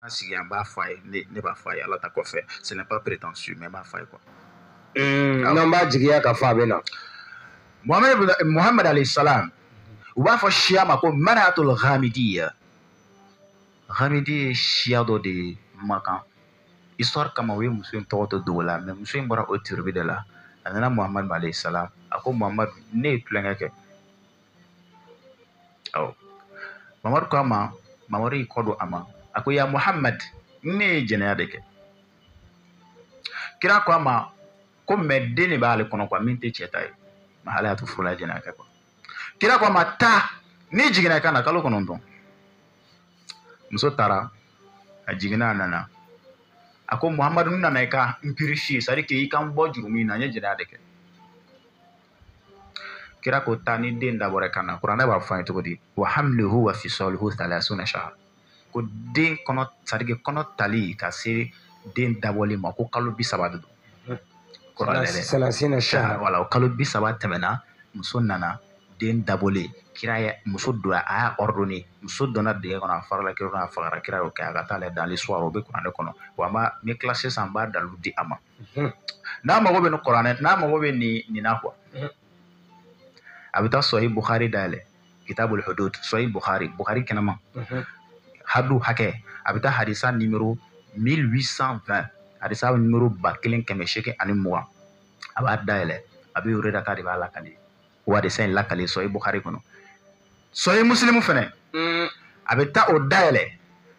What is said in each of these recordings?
An sigi an b'a fɔ a ye ne ne b'a fɔ a ye ala ta kɔfɛ ce n'est pas prétentieux mais n b'a fɔ a ye quoi. Hmm, ah. n'an b'a jigiya k'a fɔ a bɛ na. Mohamed alayhi salam u b'a fɔ siya ma ko mar'atul ghamidiya ghamidi ye siya dɔ de ye makan histoire kama u ye muso in tɔgɔ to dogo la mais muso in bɔra o tribu de la a nana Mohamed alayhi salam a ko Mohamed ne ye tulonkɛ kɛ. ɔ mamadu ko a ma mamadu y'i kɔ don a ma a ko ya muhamad ne ye jɛnɛya de kɛ kira ko a ma ko mais den de b'ale kɔnɔ quoi min tɛ cɛ ta ye mais ale y'a to furu la jɛnɛya kɛ quoi kira ko a ma taa n'i jiginna i ka na kalo kɔnɔntɔn muso taara a jiginna a nana a ko muhamadu n nana i ka n purifier c'est-à-dire k'i ka n bɔ jurumu na n ye jɛnɛya de kɛ kira ko taa ni den dabɔra i ka na kuranɛ b'a fɔ an ye cogo di wa hamluhu wa fisaluhu salasuna shahra ko den kɔnɔ c'est-à-dire que kɔnɔ tali ka se den dabɔli ma ko kalo bi saba de don wala o kalo bi saba tɛmɛna muso nana den dabɔlen kira ye muso don a y'a ordonné muso donna dingɛ kɔnɔ a farala kira a fagara kira y'o kɛ a ka taa a lajɛ dans l'histoire o bɛ kuranɛ kɔnɔ wa n b'a n bɛ classe sisan n b'a dalilu di a ma n'a mago bɛ nin kuranɛ n'a mago bɛ nin nin na quoi a bɛ taa sɔhi buhari dayɛlɛ kitabul hudud sɔhi buhari buhari kɛnɛma hadu hakɛ a bɛ taa hadisa numéro 1820 hadisa numéro ba kelen kɛmɛ seegin ani mugan a b'a dayɛlɛ abi hurayrata de b'a lakale o hadisa in lakale sɔhi buhari kɔnɔ sɔhi musilimu fɛnɛ mm. a bɛ taa o dayɛlɛ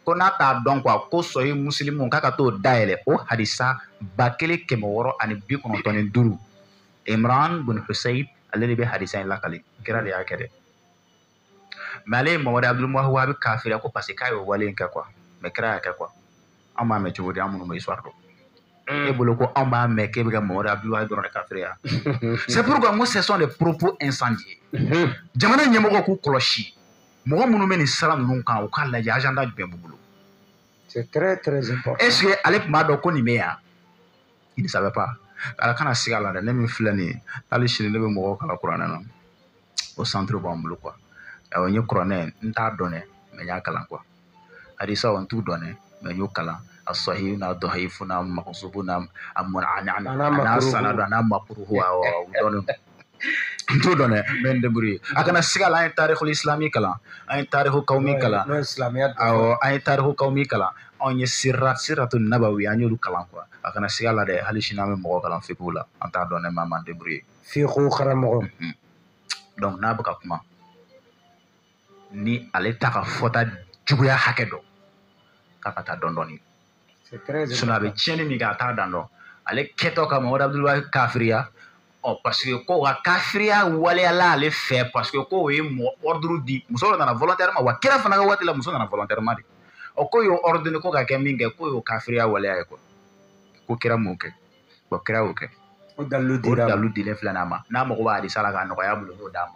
ko n'a t'a dɔn quoi ko sɔhi musilimu k'a ka t'o dayɛlɛ o hadisa ba kelen kɛmɛ wɔɔrɔ ani bi kɔnɔntɔn ni duuru imran bin husayn ale de bɛ hadisa in lakale kira de y'a kɛ dɛ mais ale ye mamadu abdul wahabi kafiriya ko parce que k'a y'o wale in kɛ quoi mais kira y'a kɛ quoi an b'a mɛn cogo di an minnu bɛ histoire dɔn Mm. e bolo ko anw b'a mɛn k'e bɛ ka mamadu abdul wahabi dɔrɔn de kafiriya c'est pourquoi n ko ce sont des propos incendiaires mm-hmm. jamana ɲɛmɔgɔ k'u kɔlɔsi mɔgɔ minnu bɛ nin sira ninnu kan u k'a lajɛ agenda jumɛn b'u bolo c'est très très important est ce que ale tun b'a dɔn ko nin bɛ yan il ne savait pas ala kana siga a la dɛ ne min filɛ nin ye hali sini ne bɛ mɔgɔw kalan kuranɛ na o centre b'an bolo quoi awɔ n ye kuranɛ n t'a dɔn dɛ mais n y'a kalan quoi hadisaw n t'u dɔn dɛ mais n y'o kalan a sɔhi n'a dɔhayifu n'a makusubu n'a a mɔna n'a sanadu n'a makuruhu awɔ u dɔnnen don n t'o dɔn dɛ mais n bɛ n débrouiller a kana siga la an ye tarihul islami kalan an ye tarihu kawmi kalan awɔ an ye tarihu kawmi kalan anw ye sira siratu nabawi an y'olu kalan quoi a kana siga la dɛ hali sini an bɛ mɔgɔ kalan fiqhu la an t'a dɔn dɛ mais an b'an débrouiller f'i ko karamɔgɔ donc n'a bɛ ka kuma ni ale t'a ka fɔta juguya hakɛ dɔn k'a ka taa dɔn dɔɔni sinon a bɛ tiɲɛni min kɛ a t'a dan dɔn ale kɛtɔ ka mamadu abdul wahab kafiriya ɔ parce que ko ka kafiriya waleyala ale fɛ parce que ko o ye mɔgɔ ordre di muso dɔ nana volontairement wa kira fana ka waati la muso nana volontairement de ɔ ko y'o ordonner ko ka kɛ min kɛ ko y'o kafiriya waleya ye quoi ko kira m'o kɛ bon kira y'o kɛ o dalilu dilen filɛ n'a ma n'a mago b'a hadisa la k'a nɔgɔya bolo n'o d'a ma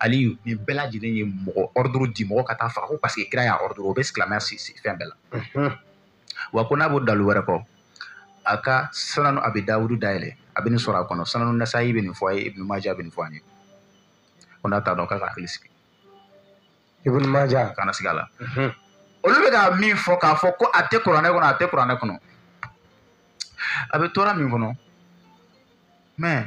aliyu nin bɛɛ lajɛlen ye mɔgɔ ordre di mɔgɔ ka taa faga ko parce que kira y'a ordre o bɛ silamɛya si si fɛn bɛɛ la wa ko n'a b'o dalu wɛrɛ kɔ a ka sananu abi dawudu dayɛlɛ a bɛ nin sɔrɔ a kɔnɔ sananu nasayi bɛ nin fɔ a ye ibnu maja bɛ nin fɔ an ye ko n'a t'a dɔn k'a ka hakili sigi ibnu maja kana siga a la olu bɛ ka min fɔ k'a fɔ ko a tɛ kuranɛ kɔnɔ a tɛ kuranɛ kɔnɔ a bɛ tora min kɔnɔ mais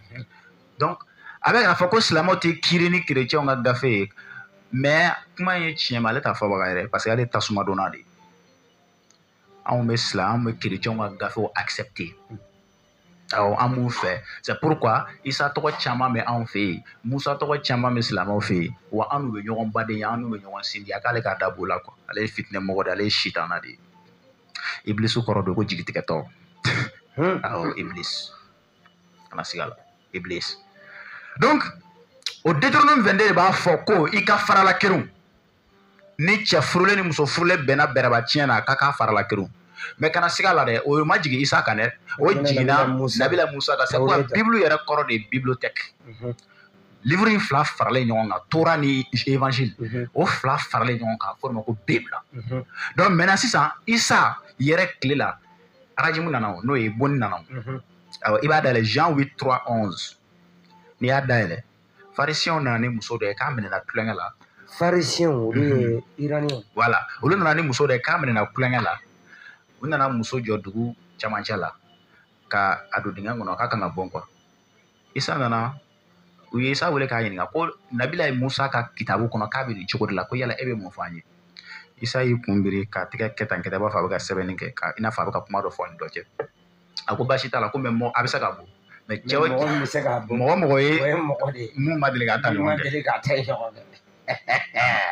donc a bɛ k'a fɔ ko silamɛw tɛ kiiri ni kerecɛnw ka gafe ye mais kuma ye tiɲɛ ma ale t'a fɔbaga yɛrɛ parce que ale tasuma donna de anw bɛ silamɛ anw bɛ kerecɛnw ka gafew accepter awɔ an b'u fɛ c'est pourquoi isa tɔgɔ caman bɛ anw fɛ yen musa tɔgɔ caman bɛ silamɛw fɛ yen wa an n'u bɛ ɲɔgɔn badenya an n'u bɛ ɲɔgɔn sinjiya k'ale k'a da b'o la quoi ale ye fitinɛmɔgɔ de ye ale ye sitana de ye ibilisi kɔrɔ de ko jigitigɛtɔ awɔ ibilisi kana siga la iblis donc o deutéronome 22 de b'a fɔ ko i ka farala kerun ni cɛ furulen ni muso furulen bɛnna bɛrɛba tiɲɛ na k'a ka farala kerun mais kana siga la dɛ o ma jigin isa kan dɛ o jiginna nabila musa kan sabu bibulu yɛrɛ kɔrɔ de ye bibliothèque mhm. livre in fila faralen ɲɔgɔn kan tora ni évangile mhm. o fila faralen ɲɔgɔn kan f'o ma ko bible mhm. donc maintenant sisan isa yɛrɛ tile la arajimu nana o n'o ye bonni nana o awɔ i b'a dayɛlɛ jean huit trois onze n'i y'a dayɛlɛ farisiyɛnw nana ni muso dɔ ye k'a minɛna tulonkɛ la farisiyɛnw olu ye iraniyɛnw voilà olu nana ni muso dɔ ye k'a minɛna tulonkɛ la u nana muso jɔ dugu camancɛ la ka a don dingɛ kɔnɔ k'a kan ka bon quoi isa nana u ye isa wele k'a ɲininka ko nabilayi musa ka kitabu kɔnɔ k'a bɛ nin cogo de la ko yala e bɛ mun fɔ an ye isa y'i kun biri k'a tɛgɛ kɛ tan kɛ tan i b'a fɔ a bɛ ka sɛbɛnni kɛ ka i n'a fɔ a bɛ ka kuma dɔ fɔ a ni dɔ cɛ a ko baasi t'a la ko mais mɔgɔ a bɛ se ka bon mais cɛ mɔgɔ mɔgɔ ye min ma deli k'a ta ɲɔgɔn kɛ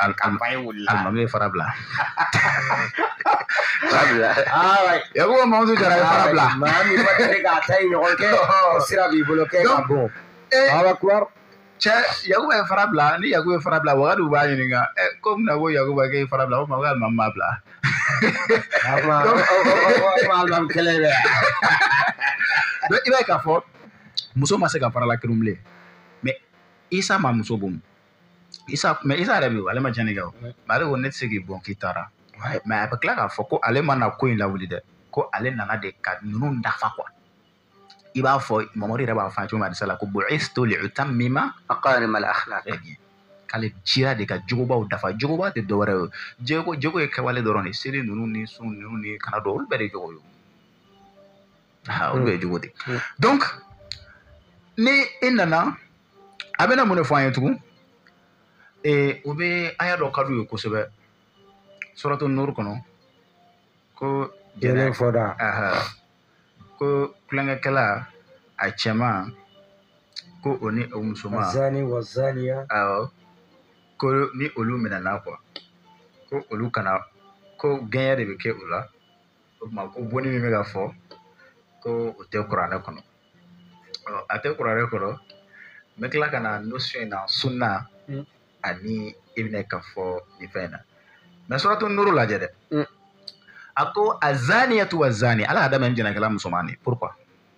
alimami ye fara bila yakuba mamudu jara ye fara bila maa min ma deli k'a ta ɲɔgɔn kɛ o sira b'i bolo kɛ ka bon awa cɛ yakuba ye fara bila ni yakuba ye fara bila wagadu b'a ɲininka ko mun na ko yakuba k'e ye fara bila ko maa ko alimami m'a bila alimami kelen bɛ donc i b'a ye k'a fɔ muso ma se ka farala kerun bilen mais isa ma muso bon isa mais isa yɛrɛ bɛ yen ale ma cɛnni kɛ o mais ale ko ne tɛ se k'i bon k'i taara mais a bɛ tila k'a fɔ ko ale ma na ko in lawuli dɛ ko ale nana de ka ninnu dafa quoi i b'a fɔ mamadu yɛrɛ b'a fɔ a cogo min hadisa la ko bu'istu li utammima makarima al akhlaq k'ale cira de ka jogobaw dafa jogoba tɛ dɔwɛrɛ ye jogo jogo ye kɛwale dɔrɔn de seli ninnu ni sun ninnu ni kana dɔn olu bɛɛ de jogo ye ha olu ye jogo de donc ni e nana a bɛna mun de fɔ an ye tugun ee o bɛ aya dɔ ka d'u ye kosɛbɛ suratu nur kɔnɔ ko jɛnɛ fɔda ko kulonkɛkɛla a cɛman ko o ni o musoman zani wa zaniya awɔ ko ni olu minɛna quoi ko olu kana ko gɛɲɛ de bɛ kɛ u la o tuma ko bonni min bɛ ka fɔ ko o tɛ kuranɛ kɔnɔ a tɛ kuranɛ kɔnɔ n bɛ tila ka na notion in na sunna hmm. ani i bɛna ka fɔ nin fɛn in na mais suratu nuru lajɛ dɛ hmm. a ko azaniyatu wa zani ala y'a daminɛ ni jɛnɛkɛla musoman de pourquoi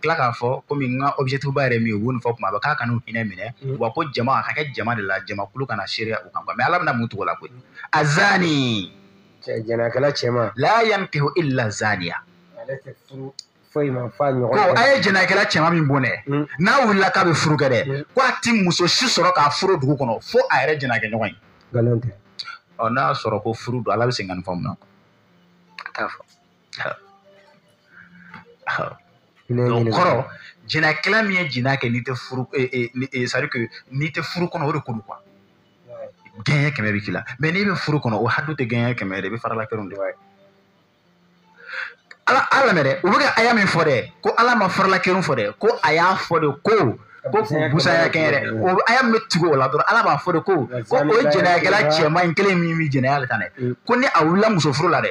tila k'a fɔ komi n ka objectif ba yɛrɛ min ye u b'o fɔ kuma bɛɛ k'a kana u hinɛ minɛ mm. wa ko jama a ka kɛ jama de la jamakulu ka na seereya u kan mais ala bɛna mun tugu o la koyi azani jɛnɛkɛla cɛman la yankihu illa zaniya ale tɛ furu foyi ma f'a ɲɔgɔn ko a ye jɛnɛkɛla cɛman min bon dɛ mm. n'a wulila k'a bɛ furu kɛ dɛ mm. ko a ti muso si sɔrɔ k'a furu dugu kɔnɔ fo a yɛrɛ jɛnɛkɛ ɲɔgɔn ye nkalon tɛ ɔ n'a sɔrɔ ko furu don ala bɛ segin ka nin fɔ mun na a t'a fɔ kɔrɔ jinakɛla min ye jina kɛ n'i tɛ furu c'est-à-dire n'i tɛ furu kɔnɔ o de ko don quoi gɛɲɛ kɛmɛ bɛ k'i la mais n'i bɛ furu kɔnɔ o hadu tɛ gɛɲɛ kɛmɛ de bɛ faralakɛrun de b'a ye ala lamɛn dɛ u bɛ ka aya min fɔ dɛ ko ala ma faralakɛrun fɔ dɛ ko a y'a fɔ de ko ko busaya kɛ yɛrɛ o aya min bɛ tugu o la dɔrɔn ala b'a fɔ de ko ko o jɛnɛyakɛla cɛman in kelen min bɛ jɛnɛya de ta dɛ ko ni a wulila muso furu la dɛ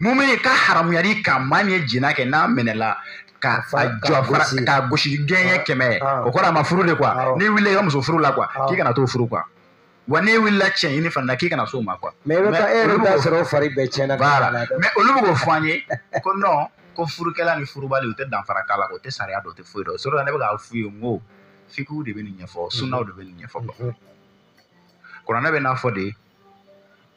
mumini ka haramuyali ka maa min ye jina kɛ n'a minɛla ka fa jɔ fara k'a gosi gɛɲɛ kɛmɛ o kɔrɔ a ma furu de quoi n'i wulila i ka muso furu la quoi k'i kana t'o furu quoi wa n'e wulila cɛ ɲini fana k'i kana s'o ma quoi mais i bɛ taa e yɛrɛ bɛ t'a sɔrɔ o fari bɛɛ cɛnna mais olu bɛ k'o fɔ an ye ko non ko furukɛla ni furubali u tɛ danfara k'a la o tɛ sariya dɔn o tɛ foyi dɔn o sɔrɔ la ne bɛ k'a f'u ye n ko fikiw de bɛ nin ɲɛfɔ sunnaw de bɛ nin ɲɛfɔ kuranɛ bɛ n'a fɔ de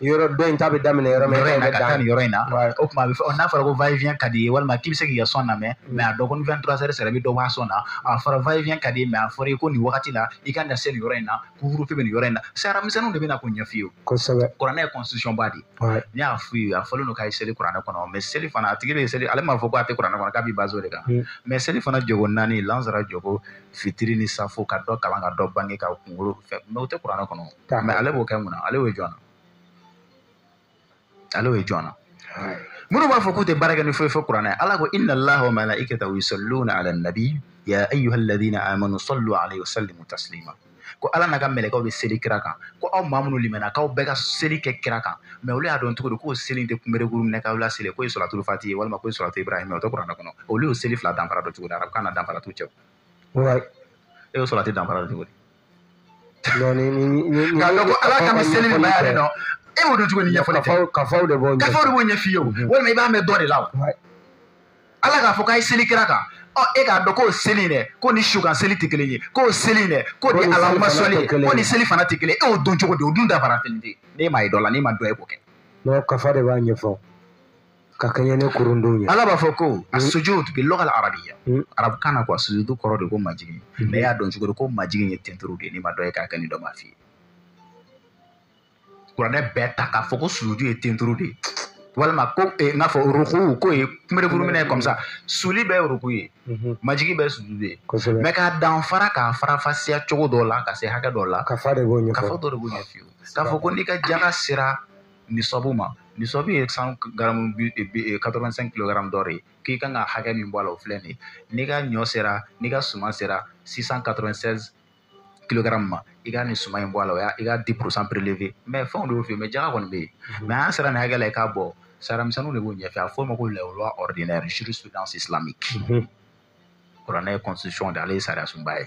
yɔrɔ dɔ in ta bɛ daminɛ yɔrɔ min yɔrɔ in na ka taa nin yɔrɔ in na o tuma a bɛ fɔ n'a fɔra ko va-et-vient ka di ye walima k'i bɛ se k'i ka son lamɛn mm. mais a dɔn ko ni vingt trois heures sera i bɛ dɔ bɔ a son na a fɔra va-et-vient ka di ye mais a fɔra i ko nin wagati la i ka na se nin yɔrɔ in na couvre-feu bɛ nin yɔrɔ in na sariya misɛnninw de bɛ na k'o ɲɛf'i ye kosɛbɛ kuranɛ ye constitution ba de ye n'i y'a f'u ye a fɔlen don k'a ye seli kuranɛ kɔnɔ mais seli fana a tigi bɛ seli ale m'a fɔ ko a tɛ kuranɛ kɔnɔ k'a b'i baser o de kan mais mm. selifana jɔko naani lansara jɔko fitiri ni safo ka dɔ kalan ka dɔ bange ka kunkolo fɛ mais o tɛ kuranɛ kɔnɔ mais ale b'o kɛ mun na ale y'o jɔn na ale y'o jɔn na minnu b'a fɔ k'u tɛ baara kɛ ni foyi fo kuranɛ ala ko inna allaha wa malaikatahu yusalluna ala nabi ya ayuha alladina amanu sallu alayhi wa sallimu taslima ko ala n'a ka mɛlɛkɛw bɛ seli kira kan ko aw maa minnu limɛna k'aw bɛɛ ka seli kɛ kira kan mais olu y'a dɔn cogo di k'o seli tɛ kunberekuru minɛ k'aw laseli k'o ye salatul fati ye walima k'o ye salatu ibrahima o tɛ kuranɛ kɔnɔ olu y'o seli fila danfara dɔn cogo di arabukan na danfara t'u cɛ e y'o salati danfara dɔn cogo di Donc ni ni ni ni k'a dɔn ko ala ka bɛ seli min ma yɛrɛ dɔn e b'o dɔn cogo ni ɲɛfɔli tɛ kafaw kafaw de b'o gafe de b'o ɲɛf'i ye o walima i b'a mɛn dɔ de la o Ouais. ala k'a fɔ k'a ye seli kira kan ɔ e k'a dɔn k'o seli in dɛ k'o ni su kan seli tɛ kelen ye k'o seli in dɛ k'o ni allahumma salli k'o ni selifana tɛ kelen ye e y'o dɔn cogo di o dun danfara kelen tɛ n'e m'a ye dɔ la n'e ma dɔ ye k'o kɛ Non kafa de b'a ɲɛfɔ. ka kɛɲɛ ni kurundun ye ala b'a fɔ ko as-sujud bil lugha al-arabiyya arabukan na ko a sujudu kɔrɔ de ko majigin mais e y'a dɔn cogo di ko majigin ye tenturu de ye n'i ma dɔ ye k'a kɛ ni dɔ m'a f'i ye kuranɛ bɛɛ ta k'a fɔ ko sujudu ye tenturu de ye walima ko eh, n k'a fɔ ruku k'o ye kunberekuru minɛ comme ça suli bɛɛ ye ruku ye mhm. majigi bɛɛ ye sujudu ye mais k'a danfara k'a faranfasiya cogo dɔ la ka se hakɛ dɔ la kafa dɔ de b'o ɲɛf'i ye k'a fɔ ko n'i ka jaga sera nisabu ma nisabu ye sanu garamu quatre vingt cinq kilogrammes d'or de ye k'i kan ka hakɛ min bɔ a la o filɛ nin ye n'i ka ɲɔ sera n'i ka suman sera six cent quatre vingt seize kilogrammes ma i ka nin suman in bɔ a la o y'a i ka dix pour cent prélever mais fɛnw de y'o f'i ye mais jaga kɔni bɛ yen mais a sera nin hakɛ la i k'a bɔ sariya misɛnninw de b'o ɲɛf'i ye a fɔ o ma ko la loi ordinaire jurisprudence islamique kuranɛ ye constitution de ale ye sariyasunba ye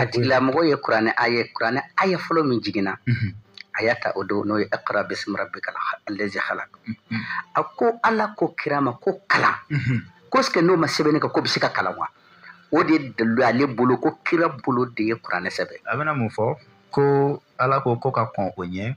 a tigilamɔgɔ ye kuranɛ a ye kuranɛ aya fɔlɔ min jiginna a y'a ta o don n'o ye iqra bismi rabbika allazi khalaq a ko ala ko kira ma ko kalan ko est-ce que n'o ma sɛbɛnni kɛ k'o bɛ se ka kalan wa o de dalilu ale bolo ko kira bolo de ye kuranɛ sɛbɛn a bɛna mun fɔ ko ala ko ko ka kɔn o ɲɛ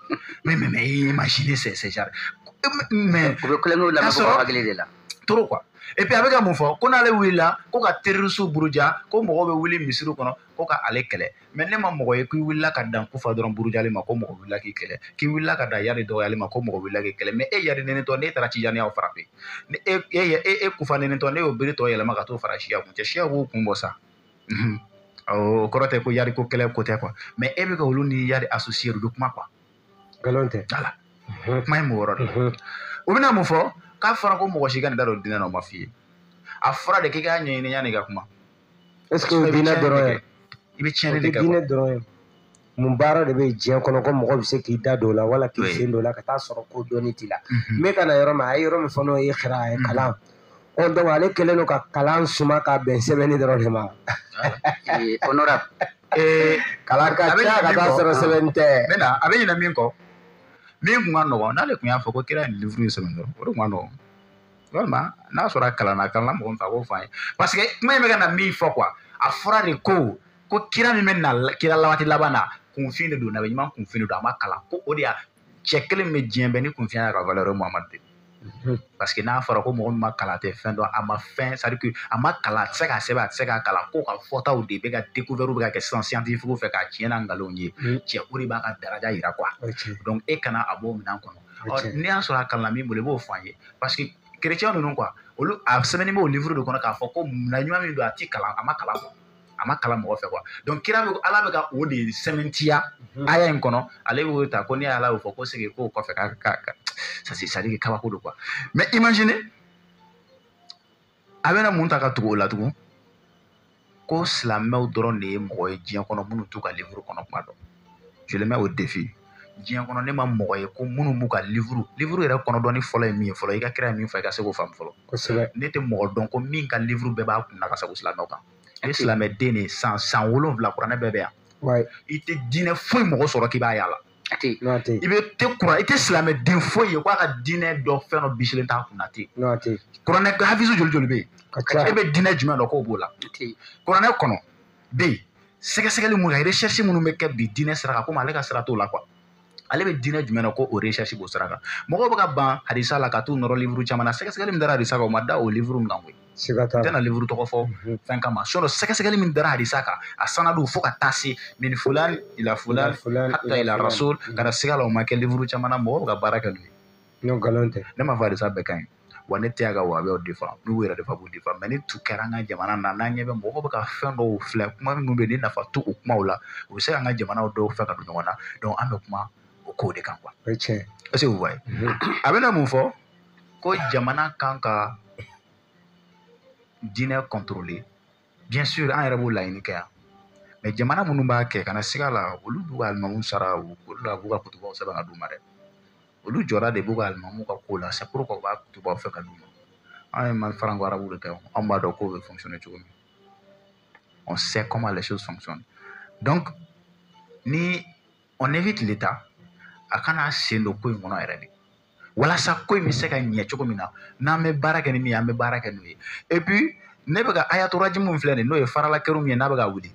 mais mais mais imaginez c'est c'est genre mais u bɛ kulonkɛw lamɛn ko hakili de la trop quoi et puis a bɛ ka mun fɔ ko n'ale wulila ko ka terrorisiw buruja ko mɔgɔw bɛ wuli misiriw kɔnɔ ko ka ale kɛlɛ mais ne ma mɔgɔ ye k'i wulila ka dan kufa dɔrɔn burujali ma ko mɔgɔ wulila k'i kɛlɛ k'i wulila ka dan yari dɔgɔyali ma ko mɔgɔ wulila k'i kɛlɛ mais e yari nenitɔ n'e taara tijaniyaw frapper ni e e e kufa nenitɔ n'e y'o bere tɔ yɛlɛma ka t'o fara siya kun cɛ siya b'u kun bɔ sa o kɔrɔ tɛ ko yari ko kɛlɛ ko tɛ quoi mais e bɛ ka olu ni yari associer u bɛ kuma quoi nkalon tɛ voilà kuma ye mɔgɔ yɔrɔ de u bɛna mun fɔ k'a fɔra ko mɔgɔ si kan'i da don diinɛ na o ma f'i ye a fɔra de k'i k'a ɲɛɲini yanni i ka kuma est ce que o diinɛ dɔrɔn ye i bɛ tiɲɛni de kɛ dɔrɔn ye mun baara de bɛ diɲɛ kɔnɔ ko mɔgɔ bɛ se k'i da don o la wala k'i sen don o la ka taa sɔrɔ ko dɔnni t'i la n bɛ ka na yɔrɔ min a ye yɔrɔ min fɔ n'o ye iqra a ye kalan ɔ donc ale kɛlen don ka kalan suma ka bɛn sɛbɛnni dɔrɔn de ma kalan ka ca ka taa sɔrɔ sɛbɛnni tɛ a bɛ ɲinɛ min kɔ min kun ka nɔgɔn n'ale tun y'a fɔ ko kira ye nin livre in sɛbɛn dɔrɔn o de kun ka nɔgɔn walima n'a sɔrɔ a kalanna a kalanna mɔgɔ min fɛ a k'o fɔ an ye parce que kuma in bɛ ka na min fɔ quoi a fɔra de ko ko kira min bɛ na kira waati laban na kunfin de don nabi ɲuman kunfin de don a ma kalan ko o de y'a cɛ kelen min bɛ diɲɛ bɛɛ ni kunfin y'a ka valeur muhamadu de mhm. parce que n'a fɔra ko mɔgɔ min ma kalan tɛ fɛn dɔn a ma fɛn c'est à dire que a ma kalan a tɛ se k'a sɛbɛn a tɛ se k'a kalan k'o ka fɔtaw de bɛ ka découverte bɛ ka kɛ sisan scientifique fɛ k'a tiɲɛ n'a nkalonw ye mhm. cɛ o de b'a ka daraja yira quoi donc e kana a b'o minɛn kɔnɔ ɔ n'i y'a sɔrɔ a kalanna min bolo i b'o fɔ an ye parce que chrétien ninnu quoi olu a sɛbɛnnen b'o livre de kɔnɔ k'a fɔ ko na ɲuman min don a ti kalan a ma kalan quoi a ma kalan mɔgɔ fɛ quoi donc kira bɛ ala bɛ ka o de sɛmɛntiya mhm. aya in kɔnɔ ale b'o ta ko ni ala y'o fɔ ko segi k'o kɔfɛ ka ka ka ça c'est c'est à dire que kabako don quoi mais imagine a bɛna mun ta ka tugu o la tugun ko silamɛw dɔrɔn de ye mɔgɔ ye diɲɛ kɔnɔ minnu t'u ka livre kɔnɔ kuma dɔn je le mets au défi diɲɛ kɔnɔ ne ma mɔgɔ ye ko minnu b'u ka livre livre yɛrɛ kɔnɔ dɔnni fɔlɔ ye min ye fɔlɔ i ka kira ye min fɔ i ka se k'o faamu fɔlɔ kosɛbɛ ne tɛ mɔgɔ dɔn ko min ka livre bɛɛ b'a kun na ka sago silamɛw kan i ye silamɛden de ye san san wolonwula kuranɛ bɛɛ bɛ yan i tɛ diinɛ foyi mɔgɔ sɔrɔ k'i b'a yaala a tɛ i bɛ tɛ kuran i tɛ silamɛden foyi ye k'a ka diinɛ dɔ fɛn dɔ bisilen t'a kun na ten kuranɛ hafizu joli joli bɛ yen e bɛ diinɛ jumɛn dɔn k'o b'o la kuranɛ kɔnɔ bɛ yen sɛgɛsɛgɛli minnu kɛ recherche minnu bɛ kɛ bi diinɛ sira kan komi ale ka sira t'o la quoi ale bɛ diinɛ jumɛn na ko o recherche b'o sira kan mɔgɔw bɛ ka ban hadisa la ka t'u nɔrɔ livre caman na sɛgɛsɛgɛli min dara hadisa kan o ma da o livre min kan koyi siga t'a la n tɛna livre tɔgɔ fɔ mhm. fɛn kama sinon sɛgɛsɛgɛli min dara hadisa kan a sanadu fo ka taa se min fulan ila fulan hatta ila rasul kana siga la o ma kɛ livre caman na mɔgɔw bɛ ka baara kɛ n'o ye n'o nkalon tɛ ne m'a fɔ hadisa bɛɛ ka ɲi wa ne tɛ yan ka wahabiw défendre n'u yɛrɛ de fa b'u défendre mais ni tun kɛra an ka jamana na n'an ɲɛ bɛ mɔgɔw bɛ ka fɛn dɔw filɛ kuma minnu bɛ yen ni nafa t'o kumaw la u bɛ se ka an ka jamanaw dɔw fɛ ka don ɲɔgɔn na donc an bɛ kuma o kow de kan quoi o ye tiɲɛ est ce que vous voyez a bɛna mun fɔ ko jamana kan ka diinɛ contrôler bien sûr an yɛrɛ b'o laɲini kɛ yan mais jamana minnu b'a kɛ kana siga la olu b'u ka alimamu sara olu la b'u ka kutubaw sɛbɛn ka d'u ma dɛ olu jɔra de b'u ka alimamu ka ko la c'est pourquoi u b'a kutubaw fɛ ka d'u ma an ye mali faranko arabu de kɛ anw b'a dɔn k'o bɛ fonctionner cogo min on sait comment les choses fonctionnent donc ni on évite l'état a kana sen don ko in kɔnɔ yɛrɛ de walasa ko in bɛ se ka ɲɛ cogo min na n'an bɛ baara kɛ ni min ye an bɛ baara kɛ n'o ye et puis ne bɛ ka ayatu rajm min filɛ nin ye n'o ye faralakɛrun min ye n'a bɛ ka wuli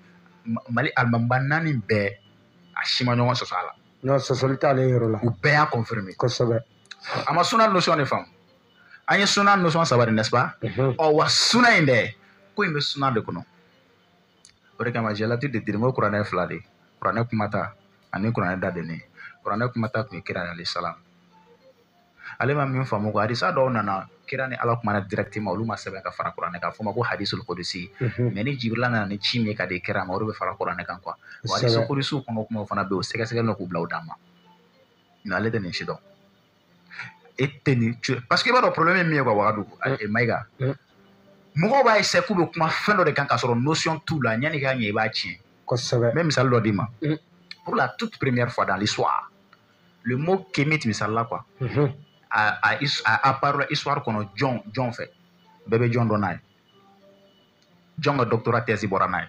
mali alimamiba naani bɛɛ a si ma ɲɔgɔn sɔsɔ a la. non sɔsɔli t'ale yɔrɔ la. u bɛɛ y'a confirmer. kosɛbɛ. a ma suna notion de faamu an ye suna notion saba de n'est-ce pas. ɔ wa suna in dɛ ko in bɛ suna de kɔnɔ. o de kama j'ai l'habitude de dire n ko kuranɛ fila de kuranɛ kumata ani kuranɛ dadɛnnen kuranɛ kumata tun ye kira alayhi salam ale ma min faamu ko hadisa dɔw nana kira ni ala kumana directement olu ma sɛbɛn ka fara kuranɛ kan fɔ ma ko hadisul qudsi mhm. mais ni jibirila nana ni ci min ka di kira ma o de bɛ fara kuranɛ kan quoi wa hadisul qudsiw kɔnɔ kumaw fana bɛ yen o sɛgɛsɛgɛlen don k'u bila u dan ma mais ale tɛ nin si dɔn e tɛ nin parce que i b'a dɔn problème ye min ye quoi wagadu eh, mayiga eh. mɔgɔw b'a essayer k'u bɛ kuma fɛn dɔ de kan k'a sɔrɔ notion t'u la yanni k'a ɲɛ i b'a tiɲɛ kosɛbɛ n bɛ misali dɔ d'i ma mm. pour la toute première fois dans l'histoire le mot kémite misali la quoi mm-hmm. a a a apparu histoire kɔnɔ jɔn jɔn fɛ bɛɛ bɛ jɔn dɔn n'a ye jɔn ka doctorat thèse bɔra n'a ye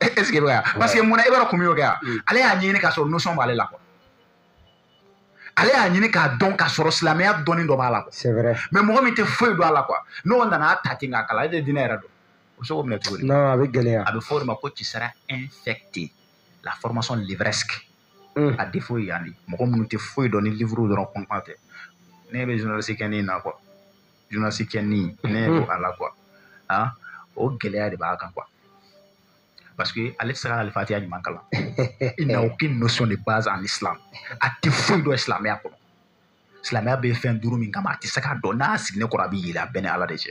est-ce que i bɛ ka parce que munna i b'a dɔn kun min y'o kɛ yan ale y'a ɲini k'a sɔrɔ notion b'ale la quoi ale y'a ɲini k'a dɔn k'a sɔrɔ silamɛya dɔnni dɔ b'a la quoi c'est vrai mais mɔgɔ min tɛ foyi dɔn a la quoi n'o nana a ta ten k'a kalan ale tɛ diinɛ yɛrɛ dɔn o bɛ se k'o minɛ cogo di non a bɛ gɛlɛya a bɛ fɔ o de ma ko tu seras infecté la formation livresque Mm. a défaut ye yan de mɔgɔ minnu tɛ foyi dɔn ni livre dɔrɔn kɔnɔna tɛ ne bɛ journaliste kɛ nin na quoi journaliste kɛ nin ne yɛrɛ ko a la quoi o gɛlɛya de b'a kan quoi parce que ale tɛ se ka alifatiya ɲuman kalan il n'a aucune notion de base en islam a tɛ foyi dɔn silamɛya kɔnɔ silamɛya bɛ fɛn duuru min kama a tɛ se k'a dɔn n'a sigilen kɔrɔ a bɛ yɛlɛ a b'e ni ala de cɛ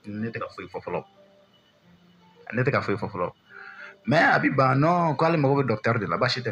ne tɛ ka foyi fɔ fɔlɔ ne tɛ ka foyi fɔ fɔlɔ mais a bɛ ban non k'ale mago bɛ docteur de la baasi tɛ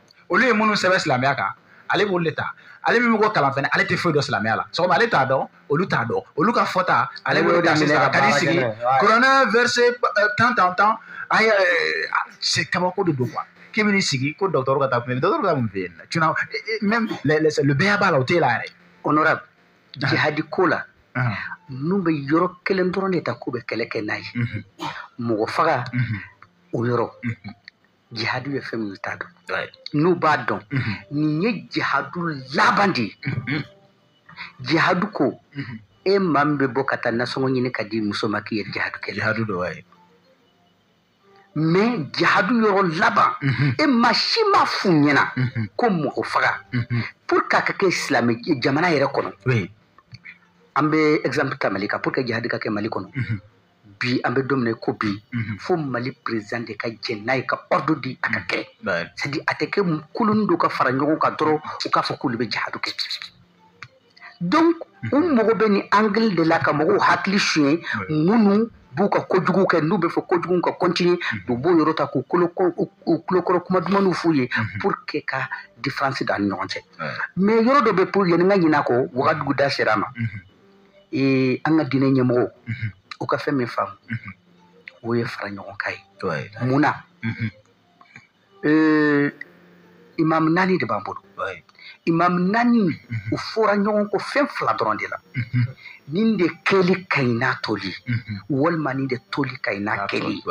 olu ye minnu sɛbɛn silamɛya kan ale b'olu de ta ale min bɛ mɔgɔ kalan fɛnɛ ale tɛ foyi dɔn silamɛya la sɔgɔma ale t'a dɔn olu t'a dɔn olu ka fɔta ale b'o ta sisan ka di sigi kuranɛ verset eh, tant tant tant a ye eh, c'est kabako de don quoi k'i bɛ n'i sigi ko docteur ka taa kun docteur ka mun fɛ yen tu n'as eh, même le b.a.-ba là o t'e la yɛrɛ honorable jihadi ko la n'u bɛ yɔrɔ kelen dɔrɔn de ta k'u bɛ kɛlɛ kɛ n'a ye mɔgɔ faga o yɔrɔ jihadu ye fɛn min t'a dɔn n'u b'a dɔn mhm. nin ye jihadu laban de ye mhm. jihadu ko mhm. e maa min bɛ bɔ ka taa nasɔngɔ ɲini ka di muso ma k'i ye jihadu kɛ jihadu dɔ ye mais jihadu yɔrɔ laban e maa si ma f'u ɲɛna ko mɔgɔ faga pour que a ka kɛ silamɛ jamana yɛrɛ kɔnɔ an bɛ exemple ta mali kan pour que jihadu ka kɛ mali kɔnɔ bi an bɛ don min na ko bi mhm. fo mali président de ka jɛn n'a ye ka ordre di a ka mhm. kɛ c'est-à-dire a tɛ kɛ kuluni dɔw ka fara ɲɔgɔn kan dɔrɔn u k'a fɔ k'olu bɛ jahadu kɛ donc u mhm. mago bɛ nin angle de la ka mɔgɔw hakili suɲɛ minnu b'u ka kojugu kɛ n'u bɛ fɛ kojugu ka continuer u b'o yɔrɔ ta k'u kulokɔrɔ kuma dumaniw f'u ye pour que ka différence don a ni ɲɔgɔn cɛ mais yɔrɔ dɔ bɛ pour yanni n ka ɲinɛ a kɔ wagadugu da sera a ma ee an ka diinɛ ɲɛmɔgɔw u ka fɛn min faamu o ye fara ɲɔgɔn kan ye mun na ee imamu naani de b'an bolo imamu naani u fɔra ɲɔgɔn kɔ fɛn fila dɔrɔn de la nin de kɛli ka ɲi n'a toli walima nin de toli ka ɲi n'a kɛli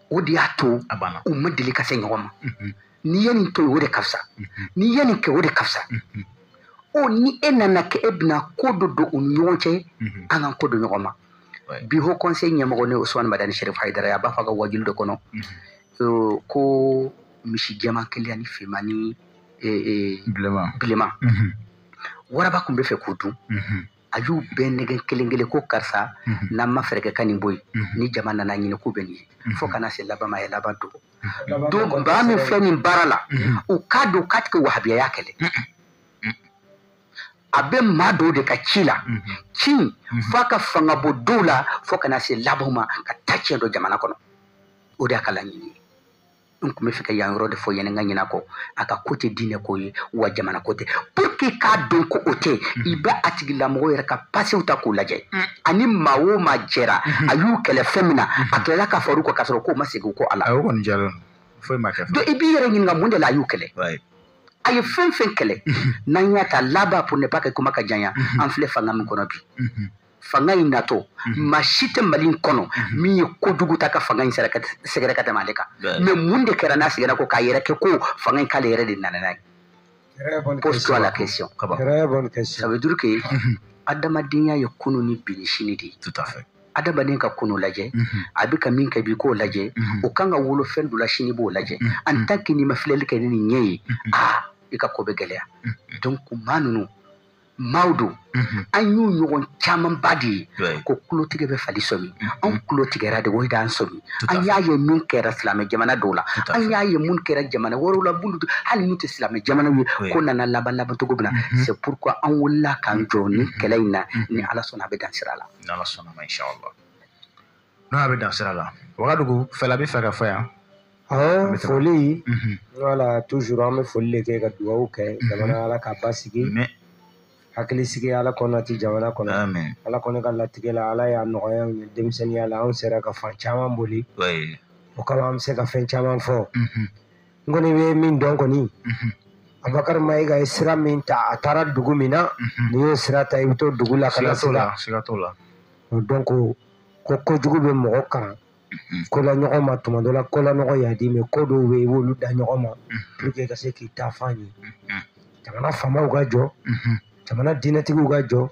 o de y'a to a banna u ma deli ka se ɲɔgɔn ma n'i ye nin to yen o de ka fisa n'i ye nin kɛ o de ka fisa o ni e nana kɛ e bɛna ko dɔ don u ni ɲɔgɔn cɛ an ka kɔ don ɲɔgɔn ma bi haut conseil ɲɛmɔgɔ ne usman madani sherif haidara a b'a fɔ a ka wajilu dɔ kɔnɔ ko misi jɛman kelen ani finman ni bilenman waraba kun bɛ fɛ k'o dun a y'u bɛɛ nɛgɛn kelen kelen ko karisa mhm. n'an ma fɛɛrɛ kɛ ka nin bɔ yen mhm. ni jama nana ɲini k'u bɛ nin ye mhm. fo ka na se laban ma a ye laban dun donc baa min filɛ nin baara la u k'a dɔn k'a tɛ ka wahabiyaya kɛlɛ a bɛ maa dɔw de ka ci la ci f'a ka fanga bɔ dɔw la fo ka na se laban ma ka taa tiɲɛ don jamana kɔnɔ o de y'a ka laɲini ye n kun bɛ fɛ ka yan yɔrɔ de fɔ yanni n ka ɲinɛ kɔ a ka ko tɛ diinɛ ko ye wa jamana ko tɛ pour que k'a dɔn ko o tɛ mm-hmm. i bɛ a tigilamɔgɔ yɛrɛ ka pasew ta k'u lajɛ mm. ani maa o maa jɛra mm-hmm. a y'u kɛlɛ fɛn min na a mm-hmm. kilala ka far'u kan k'a sɔrɔ k'u ma segin kɔ a la. a y'o kɔni diyara n ye foyi ma kɛ. donc i b'i yɛrɛ ɲininka mun de la a y'u kɛlɛ. a ye fɛn fɛn kɛlɛ n'an y'a ta laban pour ne pas que kuma ka janya an filɛ fanga min kɔnɔ bi. fanga in natɔ mhm. maa si tɛ mali in kɔnɔ mhm. min ye kojugu ta ka fanga in sɛgɛrɛ ka tɛmɛ ale kan mais mun de kɛra n'a seginna kɔ k'a yɛrɛ kɛ ko fanga in k'ale yɛrɛ de nana n'a ye pose-toi la question ça veut dire que mhm. adamadenya ye kunu ni bi ni sini de ye adamaden ka kunu lajɛ a bɛ ka min kɛ bi k'o lajɛ o kan ka wolo fɛn dɔ la sini b'o lajɛ en tant que n'i ma filɛli kɛ ni nin ɲɛ ye aa i ka ko bɛ gɛlɛya donc maa ninnu maaw don mhm. an y'u ɲɔgɔn camanba de ye ko kulotigɛ bɛ fali sɔmi mhm. anw kulo tigɛra de o de an sɔmi an y'a ye min kɛra silamɛ jamana dɔw la an y'a ye mun kɛra jamana wɛrɛw la bulu hali n'u tɛ silamɛ jamanaw ye ko nana laban laban cogo min na mhm. c'est pourquoi an wulila k'an jɔ ni kɛlɛ in na ni ala sɔnna a bɛ dan sira la n'o y'a bɛ dan sira la wagadugu fɛla bɛ fɛ ka fɔ yan an foli mhm. voilà toujours an bɛ foli de kɛ ka dugawu kɛ mhm. jamana ala ka basigi hakili sigi ala k'o nati jamana kɔnɔ ala kɔni ka latigɛ la ala y'a nɔgɔya ye denmisɛnninya la anw sera ka fan caman boli o kama an bɛ se ka fɛn caman fɔ mhm. n kɔni bɛ min dɔn kɔni abubakari mayiga ye sira min ta a taara dugu min na n'i y'o sira ta i bɛ t'o dugu la ka na se la o dɔn ko ko kojugu bɛ mɔgɔ kalan mhm. ko la ɲɔgɔn ma tuma dɔ la ko la ɲɔgɔn man di mais ko dɔw bɛ yen i b'olu da ɲɔgɔn ma mhm. pour que ka se k'i taafan ye mhm. jamana faamaw ka jɔ jamana diinɛtigiw ka jɔ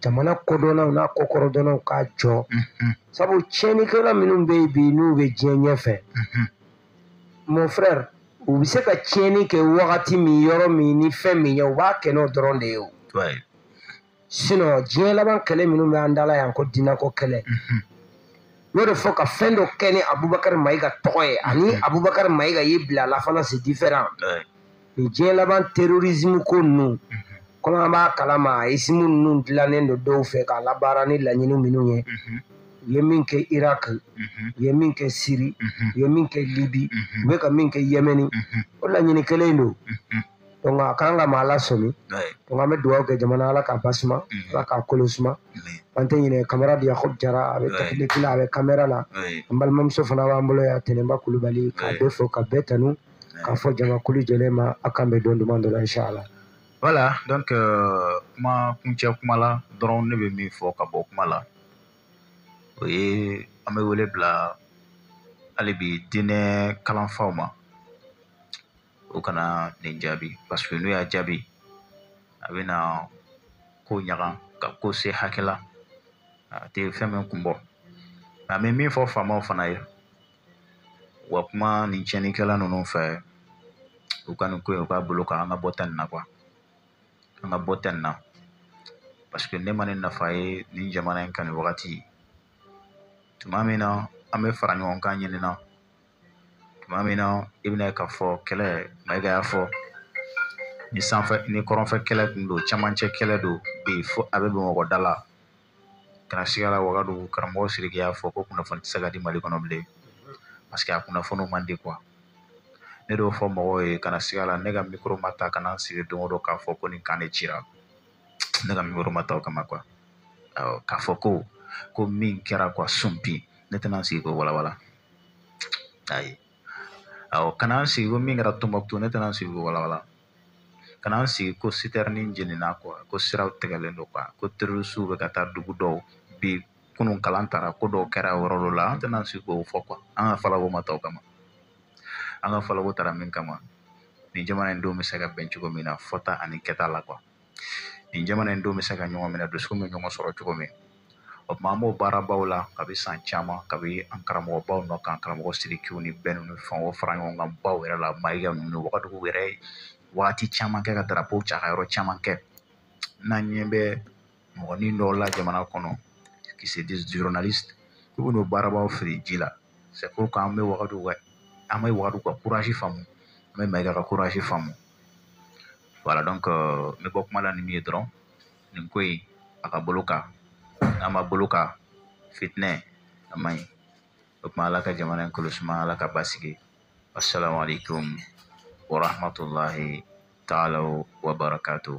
jamana kodɔnnaw n'a kokɔrɔdɔnnaw ka jɔ sabu tiɲɛnikɛla minnu bɛ yen bi n'u bɛ diɲɛ ɲɛfɛ mon frère u bɛ se ka tiɲɛni kɛ wagati min yɔrɔ min ni fɛn min ye u b'a kɛ n'o dɔrɔn de ye o sinon diɲɛ laban kɛlɛ minnu bɛ an da la yan ko diinɛko kɛlɛ n'o de fɔ ka fɛn dɔ kɛ ni abubakari mayiga tɔgɔ ye ani abubakari mayiga y'i bila a la fana c'est différent ni diɲɛ laban terrorisme ko ninnu komi an b'a kalama isimu ninnu dilannen don dɔw fɛ k'a labaara ni laɲini minnu ye u ye min kɛ iraq u ye min kɛ siri u ye min kɛ libi u bɛ ka min kɛ yemeni o laɲini kelen don donc a kan ka maa lasɔmi donc an bɛ dugawu kɛ jamana ala k'a basuma mhm. ala k'a kolo suma an tɛ ɲinɛ camarade yakob jara a bɛ tɛkiniki la a bɛ kamera la an balimamuso fana b'an bolo yan tɛnɛnba kulubali k'a bɛɛ fo k'a bɛɛ tanu k'a fɔ jamakulu jɛlen ma a k'an bɛn don duman dɔ la inshallah voilà donc euh, kuma kuncɛ kuma la dɔrɔn ne bɛ min fɔ ka bɔ kuma la o ye an bɛ wele bila hali bi diinɛ kalanfaw ma u kana nin jaabi paseke n'u y'a jaabi a bɛna ko ɲaga ka ko se hakɛ la a tɛ fɛn min kun bɔ an bɛ min fɔ faamaw fana ye u ka kuma nin tiɲɛnikɛla ninnu fɛ u ka nin ko in u k'a bloquer an ka bɔ tɛ nin na kuwa an ka bɔ tɛ nin na paseke ne ma nin nafa ye nin jamana in kan nin wagati tuma min na an bɛ fara ɲɔgɔn kan ɲinina tuma min na i bɛna ye k'a fɔ kɛlɛ mayiga y'a fɔ ni sanfɛ ni kɔrɔnfɛ kɛlɛ tun don camancɛ kɛlɛ don bi fo a bɛ bamakɔ da la kana siga a la wagadugu karamɔgɔ siriki y'a fɔ ko kunnafoni tɛ se ka di mali kɔnɔ bilen parce que a kunnafoniw man di quoi ne y'o fɔ mɔgɔw ye kana siga a la ne ka mikoro ma ta ka na n sigi don o don k'a fɔ ko nin camp de cira ne ka mikoro ma ta o kama quoi k'a fɔ ko ko min kɛra quoi sunpi ne tɛna n sigi k'o walawala ayi awɔ ka na n sigi ko min kɛra tɔnbɔkutu ne tɛna n sigi k'o walawala ka na n sigi ko citerne jenina quoi ko siraw tigɛlen don quoi ko terorisiw bɛ ka taa dugu dɔw bi kunun kalan taara ko dɔw kɛra yɔrɔ dɔ la an tɛna an sigi k'o fɔ quoi an ka falako ma ta o kama an ka falako tara min kama nin jamana in denw bɛ se ka bɛn cogo min na fɔta ani kɛta la quoi nin jamana in denw bɛ se ka ɲɔgɔn minɛ dusukun bɛ ɲɔgɔn sɔrɔ cogo min o tuma an b'o baarabaw la kabi san caman kabi an karamɔgɔbaw nɔ kan karamɔgɔ sirikiw ni bɛn ninnu fɛn o fara ɲɔgɔn kan baw yɛrɛ la mayiga ninnu wagadugu yɛrɛ wagati caman kɛ ka darapow ca ka yɔrɔ caman kɛ n'an ɲɛ bɛ mɔgɔnin dɔw la jamana kɔnɔ qui se disent journalistes k'u bɛ n'o baarabaw fili ji la c'est pourquoi an bɛ wagadugu ka an bɛ wagadugu kan faamu an bɛ mayiga kan faamu voilà donc n bɛ bɔ kuma la ni min ye dɔrɔn nin ko in a ka bolo kan n'a ma bolo kan fitinɛ a man ɲi o tuma ala ka jamana in kɔlɔsi ma ala ka basigi assalamu alaikum wa rahmatullahi ta'ala wa barakatuh